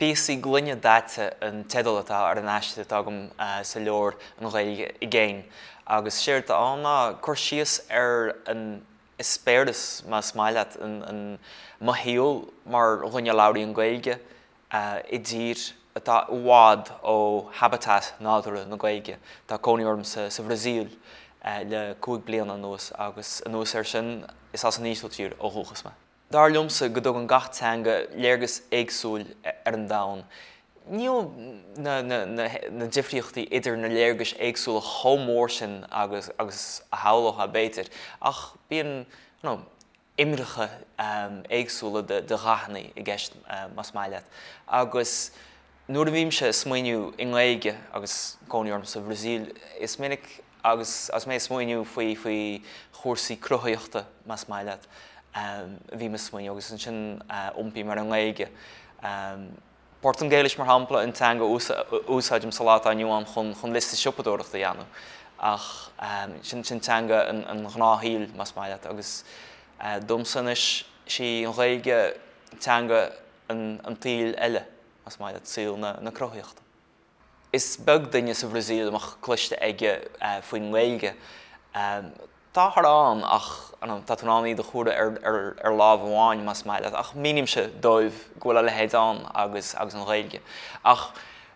'Píosaí gloine daite' an teideal atá ar an aiste atá agam sa leabhar An Ghaeilge i gCéin agus séard atá ann ná cur síos ar an eispéireas, más maith leat, an mo shaol mar dhuine a labhraíonn Gaeilge i dtír atá i bhfad ó habitat nádúrtha na Gaeilge. Tá cónaí orm sa Bhrasaíl le cúig bliana anuas agus anuas air sin, is as an Ísiltír ó dhúchas mé. Dar liomsa go dtugann gach teanga léargas éagsúil ar an domhan. Níl na difríochtaí idir na léargais éagsúla chomh mór sin agus a shamhlófá, b'fhéidir, ach bíonn imireacha éagsúla de dhathanna i gceist, más maith leat, agus. Nuair a bhímse ag smaoineamh i nGaeilge agus cónaí orm sa Bhrasaíl, is minic agus mé ag smaoineamh faoi faoi chúrsaí cruthaitheachta, más maith leat, bím ag smaoineamh agus ansin iompaím ar an nGaeilge. Portaingéilis, mar shampla, an teanga a úsáidim sa lá atá inniu ann chun chun liosta siopadóireachta a dhéanamh ach sin teanga an ghnáthshaoil, más maith leat, agus domsa anois, sí an Ghaeilge teanga an tsaoil eile, más maith leat, saol na cruthaitheachta. Is beag duine sa Bhrasaíl a mbeadh cloiste aige faoin nGaeilge. Táthar ann ach tá tú in ann iad a chomhaireamh ar lámh amháin, más maith leat, ach mínímse dóibh go bhfuil a leithéid ann agus agus an Ghaeilge. Ach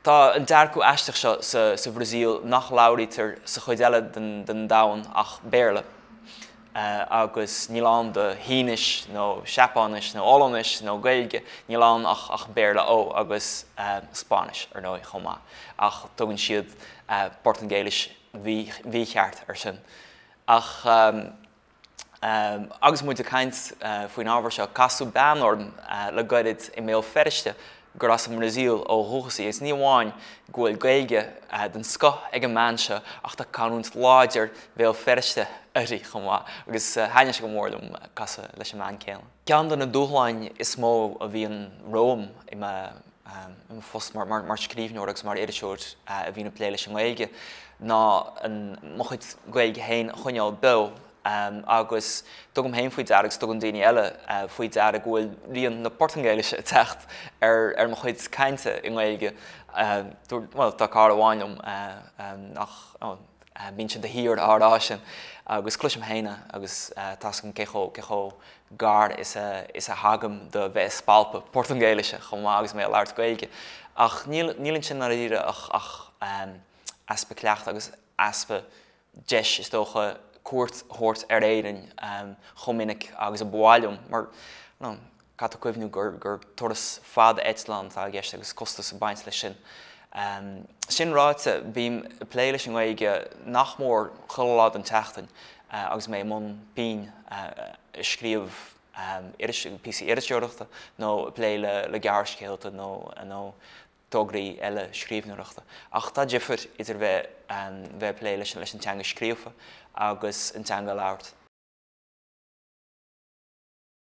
tá an dearcadh aisteach seo sa Bhrasaíl nach labhraítear sa chuid eile den domhan ach Béarla. agus níl ann do Shínis nó Seapáinis nó Ollainis nó Gaeilge, níl ann ach Béarla Ó, agus Spáinnis, ar ndóigh, chomh maith, ach tugann siad Portaingéilis mhícheart ar sin. Ach agus muid ag caint faoin ábhar seo, casadh bean orm le gairid i mBéal Feirste, gur as an mBrasaíl ó dhúchas í agus ní amháin go bhfuil Gaeilge den scoth ag an mbean seo ach tá canúint láidir Bhéal Feirste uirthi chomh maith agus thaitin sé go mór liom casadh leis an mbean céanna. Ceann de na dúshláin is mó a bhíonn romham i mo phost mar scríbhneoir agus mar iriseoir a bhíonn ag plé leis an nGaeilge ná mo chuid Gaeilge héin a choinneáil beo. agus tugaim héin faoi deara agus tugann daoine eile faoi deara go bhfuil rian na Portaingéilise ag teacht ar mo chuid cainte i nGaeilge. Bhuel, tá cara amháin liom ach bíonn sé de shíor á rá sin agus cloisim héin é agus tá's agam cé chomh gar is a thagaim do bheith ag spalpadh Portaingéilise chomh maith agus mé ag labhairt Gaeilge. Ach níl ansin, i ndáiríre, ach easpa cleachta agus easpa deis, is dócha, cuairt a thabhairt ar Éirinn chomh minic agus a ba mhaith liom, mar caithfidh tú cuimhniú gur turas fada eitleáin atá i gceist agus costas ag baint leis sin. Sin ráite, bím ag plé leis an nGaeilge nach mór chuile lá den tseachtain agus mé i mbun pinn, ag scríobh píosaí iriseoireachta nó ag plé le gearrscéalta nó. tograí eile scríbhneoireachta. Ach tá difear idir bheith ag plé leis an teanga scríofa agus an teanga a labhairt.